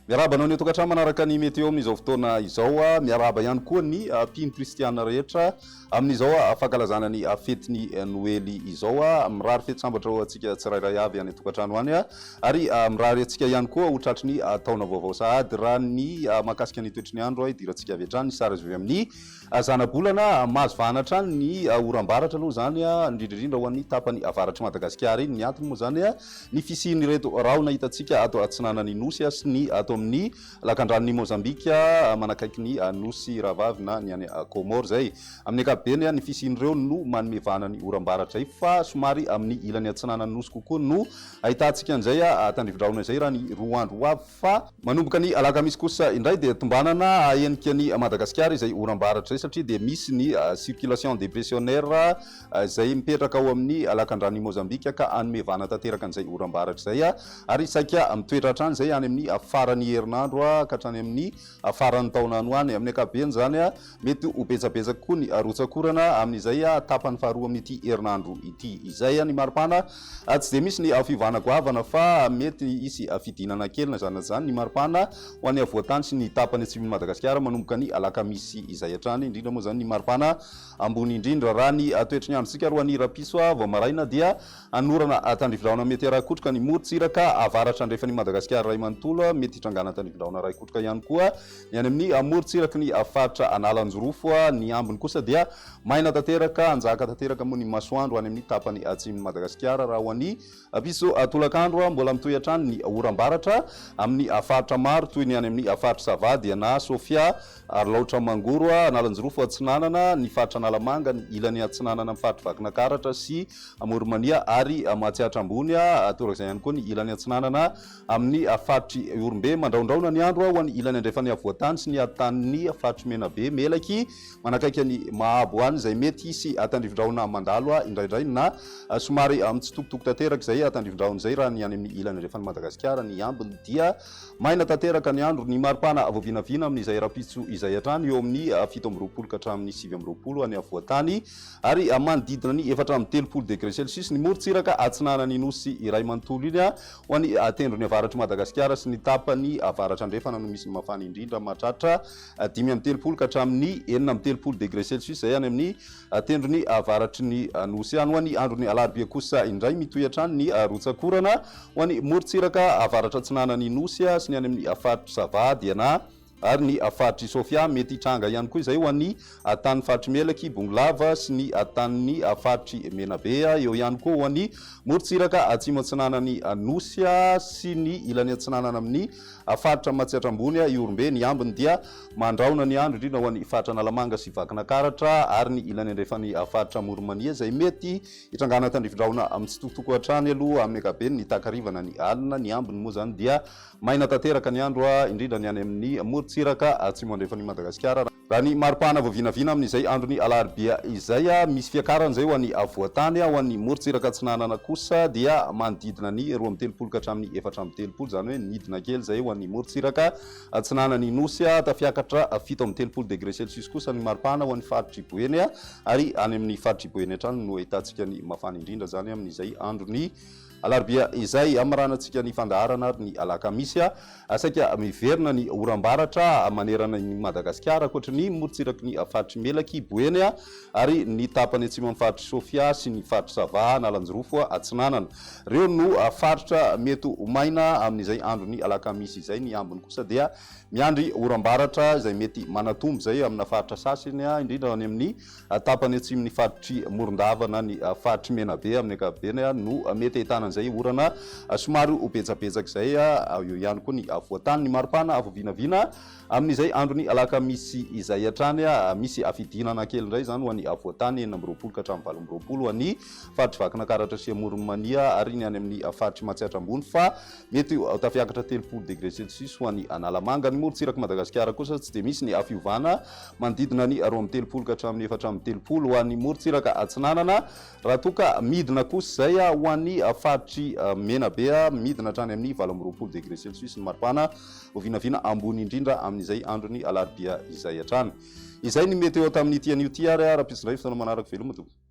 Miarahaba anao ny tokantrano manaraka ny meteo amin'izao fotoana izao. Miarahaba ihany koa ny mpino kristiana rehetra. Amin'izao fankalazana ny fetin'ny Noely izao, mirary fety sambatra ho antsika tsirairay avy any an-tokantrano any, ary mirary antsika ihany koa ho tratry ny taona vaovao sahady. Raha ny mahakasika ny toetry ny andro, idirantsika avy hatrany ny sary azo avy amin'ny zanabolana. Mahazo vahana hatrany ny oram-baratra aloha izany, indrindra indrindra ho an'ny tapany avaratr'i Madagasikara iny. Ny antony moa izany, ny fisian'ireto rahona hitantsika ato atsinanan'ny Nosy sy ny ato amin'ny. Lakandranon'i Mozambika manakaiky ny Nosy Rahavavy na ny any Comores izay. Amin'ny ankapobeny, ny fisian'ireo no manome vahana ny oram-baratra izay fa somary amin'ny ilany atsinanan'ny Nosy kokoa no ahitantsika an'izay tandrivi-drahona izay raha ny roa andro ho avy fa manomboka ny alakamisy kosa indray dia tombanana hahenika an'i Madagasikara izay oram-baratra izay satria dia misy ny circulation depressionnaire izay mipetraka ao amin'ny Alakandrano i Mozambika ka hanome vahana tanteraka an'izay oram-baratra izay ary saika mitoetra hatrany izay any amin'ny faran'ny herinandro ka hatrany amin'ny faran'ny taona any ho any. Amin'ny ankapobeny izany, mety ho betsabetsaka kokoa ny rotsak'orana amin'izay tapany faharoa amin'ity herinandro ity izay. Ny maripana, tsy dia misy ny fiovana goavana fa mety hisy fidinana kely na izany na izany ny maripana ho any afovoan-tany sy ny tapany atsimon'i Madagasikara manomboka ny alakamisy izay hatrany, indrindra moa izany ny maripana ambony indrindra. Raha ny toetry ny androntsika ary ho an'ny rapisoa vao maraina dia anorana tandrivilaona mety arakotroka ny morontsiraka avaratra andrefan'i Madagasikara iray manontolo, mety hitrangana tandrivilaona araikotroka ihany koa ny any amin'ny morontsiraky ny faritra Analanjirofo, ny ambiny kosa dia maina tanteraka, hanjaka tanteraka moa ny masoandro any amin'ny tapany atsimon'i Madagasikara raha ho an'i Apiso, Tolakandro, mbola mitohy hatrany ny oram-baratra amin'ny faritra maro toy ny any amin'ny faritr'i Sava, Diana, Sofia, Alaotra, Mangoro, Analanjirofo Atsinanana, ny faritra Analamanga, ny ilany atsinanana amin'ny faritr'i Vakinakaratra sy Amoronmania ary Mahatsiatra Ambony, torak'izay ihany koa ny ilany atsinanana amin'ny faritr'i Ihorombe. Mandrahondrahona ny andro ho an'ny ilany andrefan'ny afovoan-tany sy ny atotanin'ny faritr'i Menabe, Melaky, Manakaiky an'i Mahabo any izay mety hisy tandrivindrahona mandalo indraindray na somary mitsitokotoko tanteraka izay tandrivindrahona izay raha ny any amin'ny ilany andrefan'i Madagasikara ny ambiny dia maina tanteraka ny andro. Ny maripana voavinavina amin'izay rahampitso izay hatrany eo amin'ny fito amby roapolo ka hatramin'ny sivy amby roapolo any afovoan-tany ary manodidina ny efatra amby telopolo degre celsius ny morontsiraka atsinanan'ny Nosy iray manontolo iny ho an'ny tendrony avaratr'i Madagasikara sy ny tapany avaratra andrefana no misy ny mafana indrindra mahatratra dimy amby telopolo ka hatramin'ny enina amby telopolo degre celsius izay any amin'ny tendrony avaratry ny Nosy any. Ho an'ny andron'ny alarobia kosa indray mitohy hatrany ny rotsak'orana ho any morontsiraka avaratra atsinanan'ny Nosy sy ny any amin'ny faritr'i Sava, Diana ary ny faritr'i Sofia. Mety hitranga ihany koa izay ho an'ny tanin'ny faritr'i Melaky, Bongolava sy ny tanin'ny faritr'i Menabe. Eo ihany koa ho an'ny morontsiraka atsimo atsinanan'ny Nosy sy ny ilany atsinanana amin'ny A Faritra Matsiatra Ambony, Ihorombe, ny ambiny dia mandrahona ny andro indrindra ho an'ny Faritra Analamanga sy Vakinakaratra ary ny ilany andrefan'ny Faritra Amoron'Mania izay mety hitrangana tandrifin-drahona mitsitokotoko hatrany aloha amin'ny ankapobeny ny takariva na ny alina. Ny ambiny moa izany dia maina tanteraka ny andro indrindra ny any amin'ny morontsiraka atsimo-andrefan'i Madagasikara. Raha ny mari-pahana voavinavina amin'izay andron'ny alarobia izay, misy fiakarana izay ho an'ny afovoan-tany, ho an'ny morontsiraka atsinanana kosa dia manodidina ny roa amby telopolo ka hatramin'ny efatra amby telopolo, izany hoe nidina kely izay ho an'ny morontsiraka atsinanan'ny Nosy, tafiakatra fito amby telopolo degré celsius kosa ny mari-pahana ho an'ny faritr'i Boeny, ary any amin'ny faritr'i Boeny hatrany no ahitantsika ny mafana indrindra izany amin'izay andron'ny Alarobia izay hamaranantsika ny fandaharana ary ny alakamisy, saika miverina ny oram-baratra manerana an'i Madagasikara, ankoatry ny morontsiraky ny faritr'i Melaky, Boeny, ary ny tapany atsimon'ny faritr'i Sofia sy ny faritr'i Sava, Analanjirofo Atsinanana. Ireo no faritra mety ho maina amin'izay andron'ny alakamisy izay. Ny ambiny kosa dia miandry oram-baratra izay mety manatombo izay amina faritra sasany, indrindra any amin'ny tapany atsimon'ny faritr'i Morondava na ny faritr'i Menabe amin'ny ankapobeny no mety ahitana an'izay orana somary ho betsabetsaka izay. Eo ihany koa ny voatany, ny maripana avo vinavina amin'izay andron'ny alakamisy izay hatrany. Misy fidinana kely indray izany ho an'ny voatany enina amby roapolo ka hatramin'ny valo amby roapolo ho an'ny faritr'i Vakinakaratra sy Amoron'i Mania ary ny any amin'ny faritr'i Matsiatra Ambony fa mety ho tafiakatra telopolo degre celsius ho an'i Analamanga. Ny morontsirak'i Madagasikara kosa tsy dia misy ny fiovana manodidina ny roa amby telopolo ka hatramin'ny efatra amby telopolo ho an'ny morontsiraka atsinanana, raha toa ka midina kosa izay ho an'ny faritr'i Menabe, midina hatrany amin'ny valo amby roapolo degré celsius ny maripana, ho vinavina ambony indrindra amin'izay andron'ny alarobia izay hatrany. Izay ny météo tamin'ity anio ity ary raha pitsindray ny fotoana manaraka, veloma tompoko.